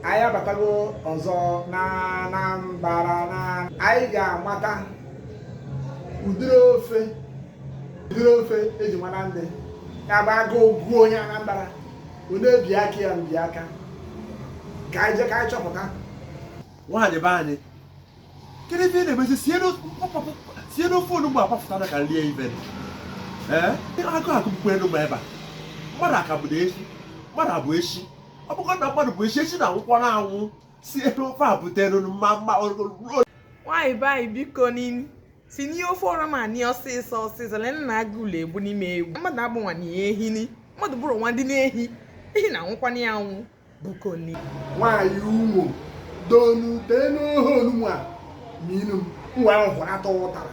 anyị abatago ọzọ na Anambra anyị ga-amata ụdịrị ofe ụdịrị ofe eji mara ndị ya bụ agụụ gụọ onye Anambra ọ na-ebi aka ya mbi aka ka anyị jee ka anyị chọpụta nwaanyị be anyị kedu ife ị na-emezi sienụ ofe onugbu agbafụtara ka rie ife ee agụụ agụgbukwa elu ma ebe a mmadụ aka bụ na eshi mmadụ abụ eshi ọ bụgodo na mmadụ bụ eshi eshi na-anwụkwanụ anwụ sibe ofe a butere mma mma nwaanyị be anyị bikoni sinie ofe ọra ma ni ọsịsọ ọsịsọ lee na agụụ na-egbuni m egbu mmadụ abụnwana ehi ni mmadụ bụrụnwadị na ehi ehi na-anwụkwana ya anwụ biko ni nwaanyị ụmụ donu teenụ ohe onugbu ma inu m nwa ahụ hụrụ atọ ụtara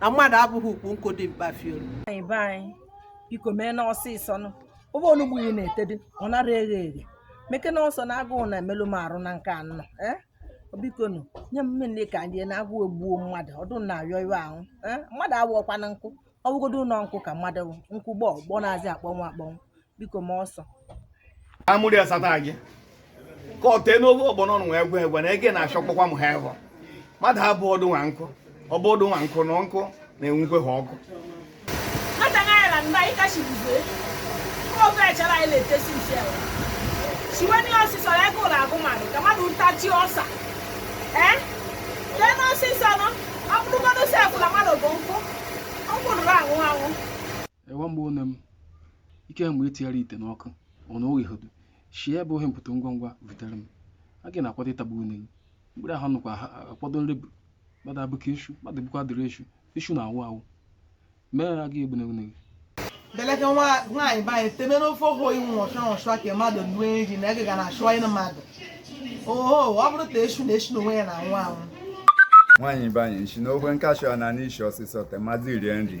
na mmadụ abụghị ukwu nkụ dị mkpa fiolu nwaanyị be anyị biko meenụ ọsịsọ nụ ofe onugbu ị na-etedị ọ nara eghe eghe meke na ọsọ na agụụ na-emelụ m arụ na nke anọ ee biko nụ nye m nri ka rie na agụụ egbuo mmadụ ọdụ na-arịọ iwe ahụ ee mmadụ awụọkwana nkụ ọ bụgodo nọ nkụ ka mmadụ wụ, nkụ gbọ gbọ na-azị akpọnwụ akpọnwụ biko ma ọsọ amụrụ ya sata gị ka ọ tee n'ofe ọgbọnọ nwa egwe egwe na ege na-achọkpọkwa m ha ịhọ mmadụ abụ ọdụ nwa nkụ ọ bụ ọdụ nwa nkụ na nkụ na-enwukwe ha ọkụ siweni ọsịsọ ya ego na-agụ mmadụ ka mmadụ ntachi ọsa ee teenụ ọsịsọ nụ ọ bụrụgodo sefụ na mmadụ bụ nkụ ọ bụrụ anwụ anwụ ewa mgbe one m ike mgbe i tinyere ite n'ọkụ ọ na-eghe hodu shibe ohe mpọtọ ngwa ngwa butere m agụụ na-akwado ịtagbu une gị mkpụrụ ahụ nụkwa ha akwado nri bụ mmadụ abụka eshu mmadụ bụkwa dịrị eshu eshu na-awụ awụ mere agụụ egbune une gị beleke nwaanyị be anyị teme n'ofe ofe oyi nwa ọchọ ọchọ ka mmadụ nue nri na ege ga na-achụ anyị mmadụ oho ọ bụrụ ta eshu na eshu n'onwe ya na-anwụ anwụ nwaanyị be anyị nshi na ogwe nkashụ a na n'ishi ọsịsọ temazi rie nri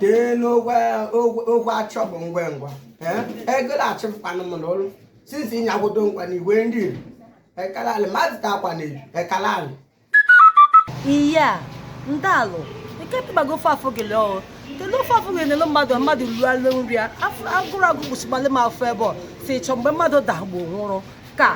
tee n'ogwe ogwe achọ bụ ngwa ngwa ego na-achịpụkwanụ m n'ụlọ sinsi ịnyagwodo nkwa na igwe ndị iri ekalali mmadụ ta akwa na eju ekalali iya ndalụ nke tụbago ofe afọ gele ọrụ kedu ofe afọ gele nele mmadụ mmadụ rualụ nri ya agụrụ agụ kwụsịgbalị m afọ ebe ọ si chọ mgbe mmadụ dagbo nwụrụ ka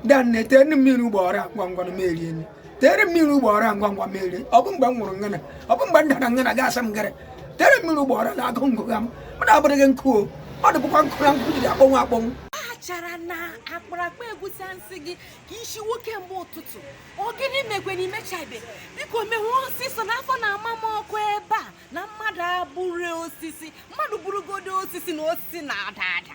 danne tere mmiri ugbo ọra ngwa ngwa na m erie nri tere mmiri ugbo ọra ngwa ngwa m rie ọ bụ mgbe m nwụrụ ngana ọ bụ mgbe m dara ngana ga asa m gara tere mmiri ugbo ọra na agụụ na-agụgha m mmadụ abụrụghị nkụ mmadụ bụkwa nkụ na nkụ jiri akpọnwụ akpọnwụ achara na akparakpa egusi m sị gị ka i sinwe kemgbe ụtụtụ ọ gịnị mekwe na imechabe biko mewe ọsịsọ na afọ na-ama m ọkụ ebe a na mmadụ abụrụ osisi mmadụ bụrụgodo osisi na osisi na-ada ada